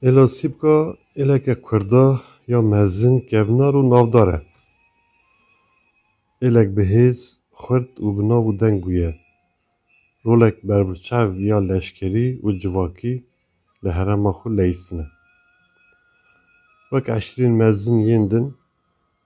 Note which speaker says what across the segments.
Speaker 1: Êla Sîpka êleke kurda ya mezin, kevnar û navdar e. Êlek bi hêz, xurt û bi nav û deng bûye. Rolek berbiçav ya leşkerî û civakî li herêma xwe leyîstin e. Wek eşrîn mezin yên din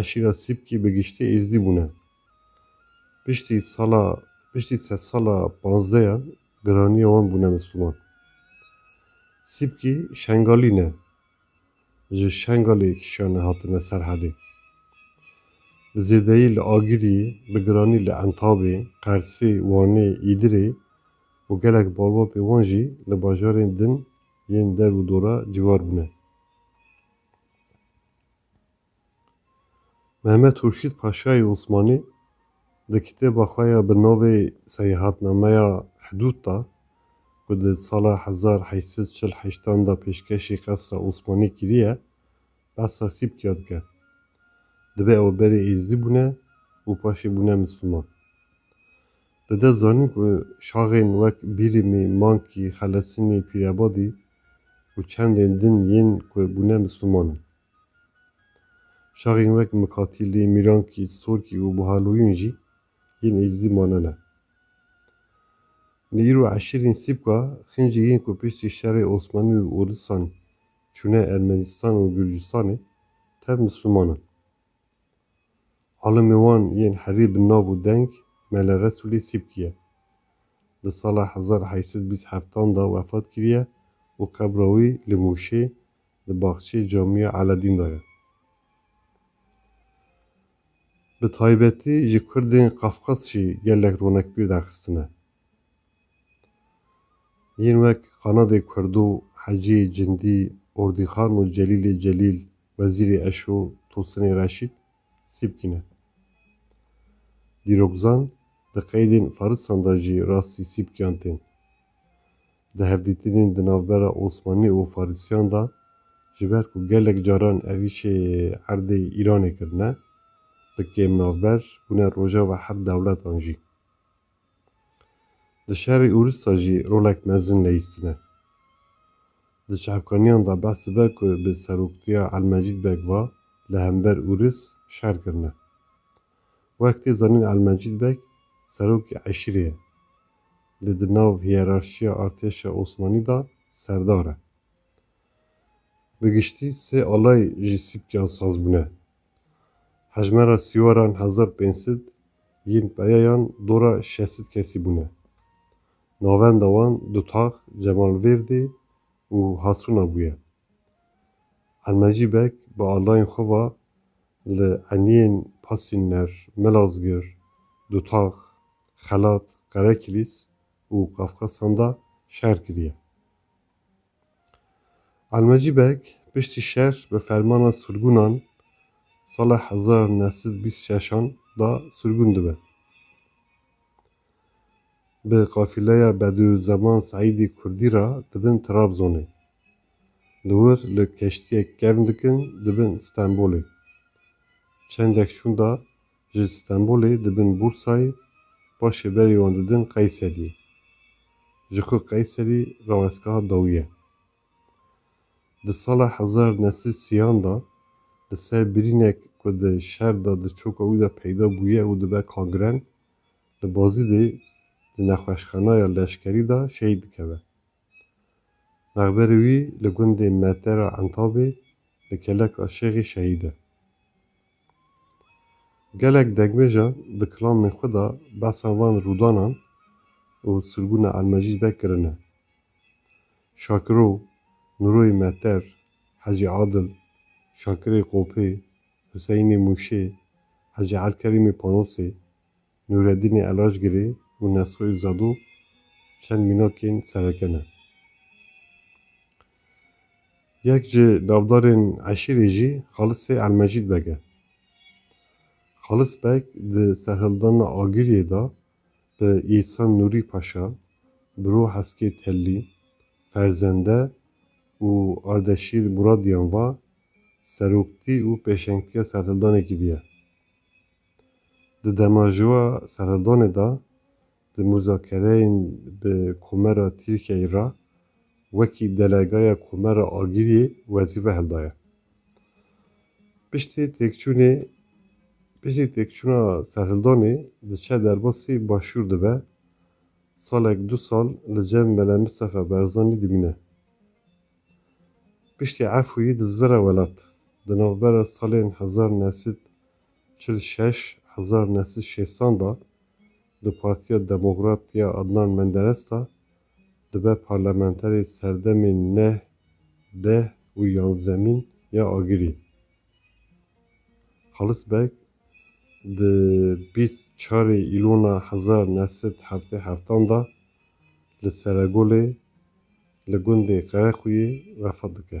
Speaker 1: Eşîra Sîpkî bi giştî Êzdî bûne. Piştî sala piştî sed sala panzdeyan giraniya wan bûne misliman. Sîpkî Şengalî ne. Ji Şengalê kişiyane hatine Serhedê. Bi zêdeyî li Agirî, bi giranî li Entabê, Qersê, Wanê, Îdirê û gelek balbatê wan jî li bajarên din yên der û dora ciwar bûne. Mehmet Hurşîd Paşayê Osmanî di kitêba xwe ya bi navê Seyahatnameya Hidûd de ku di sala hezar heşt sed çil heştan de pêşkêşî qesra Osmanî kiriye, behsa Sîpkya dike. Dibe ew berê Êzidî bûne û paşê bûne Misliman. Dide zanîn ku şaxên wek Bîrîmî, Mankî, Xelesinî, Pîrebadî û çendên din yên ku bûne Misliman in. Şaxên wek Mikatîlî, Mîrankî, Sorkî û Buhaloyûn jî yên Êzidî manene. Li îro eşîrên Sîpka, Xinjî yên ku piştî şerê Osmanî û Ûrisan çûne Ermenîstan û Gurcistanê, tev Misliman in. Alimê wan yên herî bi nav û deng Mele Resûlê Sîpkî ye. Di sala hezar heşt sed bîst heftan de wefat kiriye û qebra wî li Mûşê di baxçeyê Camîya Eledîn de ye. Bi taybetî ji kurdên Qafqaz jî gelek ronekbîr derxistine. Yên wek Qanadê Kurdo, Heciyê Cindî, Ordîxan û Celîlê Celîl, Wezîrê Eşo, Tosinê Reşît, Sîpkî ne. Dîrokzan di qeydên Farisan de jî rastî Sîpkiyan tên. Di hevdîtinên di navbera Osmanî û Farisiyan de ji ber ku gelek caran evîşê erdê Îranê kirine, bi kêmnavber bûne rojava her dewletan jî. Di şerê Ûrûsda jî rolek mezin Leyîs tine. Di çavkaniyan de behs dibe ku bi seroktiya Elmecîd Beg va li hember Ûrûs şer kirine. Wek tê zanîn Elmecîd Beg serokê eşîrê ye. Lê di nav hiyerarşiya artêşa Osmanî de serdar e. Bi giştî sê alay ji sîpkiyan saz bûne. Hejmara sîwaran hezar pênc sed yên peyayan dora şeş sed kesî bûne. Navenda wan Dutax, Cemalvêrdê û Hasûna bûye. Elmecî Beg bi alayên xwe ve li eniyên Pasînner, Melazgir, Dutax, Xelat, Qerekilîs û Qafqasan de şer kiriye. Elmecî Beg piştî şer bi fermana surgûnan sala hezar û neh sed û bîst û şeş an da surgûn dibe. Bi qafîleya Bedûzeman Seîdî Kurdî ra dibin Trabzonê. Li wir li keştiyek kevn dikin dibin Stenbolê. Çendek şûnda Ji Stenbolê dibin Bursayê, paşê berî wan didin Qeyseriyê. Ji ku Qeyserî rawestgeha dawî ye. Di sala hezar neh sed sîyan de li ser birînek ku di şer de di çoka wî de peyda bûye û dibe kangren, li Bazidê di nexweşxanaya leşkerî de şehîd dikeve. Mexberê wî li gundê Metera Entabê li Keleka Şêxê şehîd e. Gelek dekbêje di kilamên xwe de behsa van rûdanan û sirgûna Elmecîd ve kirine. Şakiro, Nuroyê Mehter, Hecî Adil, Şakirê Qopê, Huseyinê Mûşê, Hecî Elkerîmê Panosê, Nûredînê Elajgirê û Nesoyî Zado çend mînakên sereke ne. Yek ji navdarên eşîrê jî Xalisê Elmecîd Beg e. Xalis Beg di serhildana Agiriyê de bi Îhsan Nûrî Paşa, Biro Heskê Tellî, Ferzende û Ardeşîr Muradiyan ve seroktî û pêşengtiya serhildanê kiriye. Di demajoa seredonê de di muzakereyên bi Komara Tirkiyeyê re wekî delegaya Komara Agiriyê wezîfe hildaye. Piştî têkçûnê Piştî têkçûna serhildonê diçe derbasî Başûr dibe, salek du sal li cem Mele Mistefa Berzanî dimîne. Piştî efûyî dizvire welat. Di navbera salên hezar nû sed Çil û şeş hezar nesil şêsan da di Partiya Demokrat ya Adnan Menderes da dibe parlamenterê serdemên neh, deh û yanzemîn ya Agirî. Xalis Beg di bîst û çarê Îlona hezar neh sed heftê heftan da li Seregolê li gundê Qerequyê vefa dike.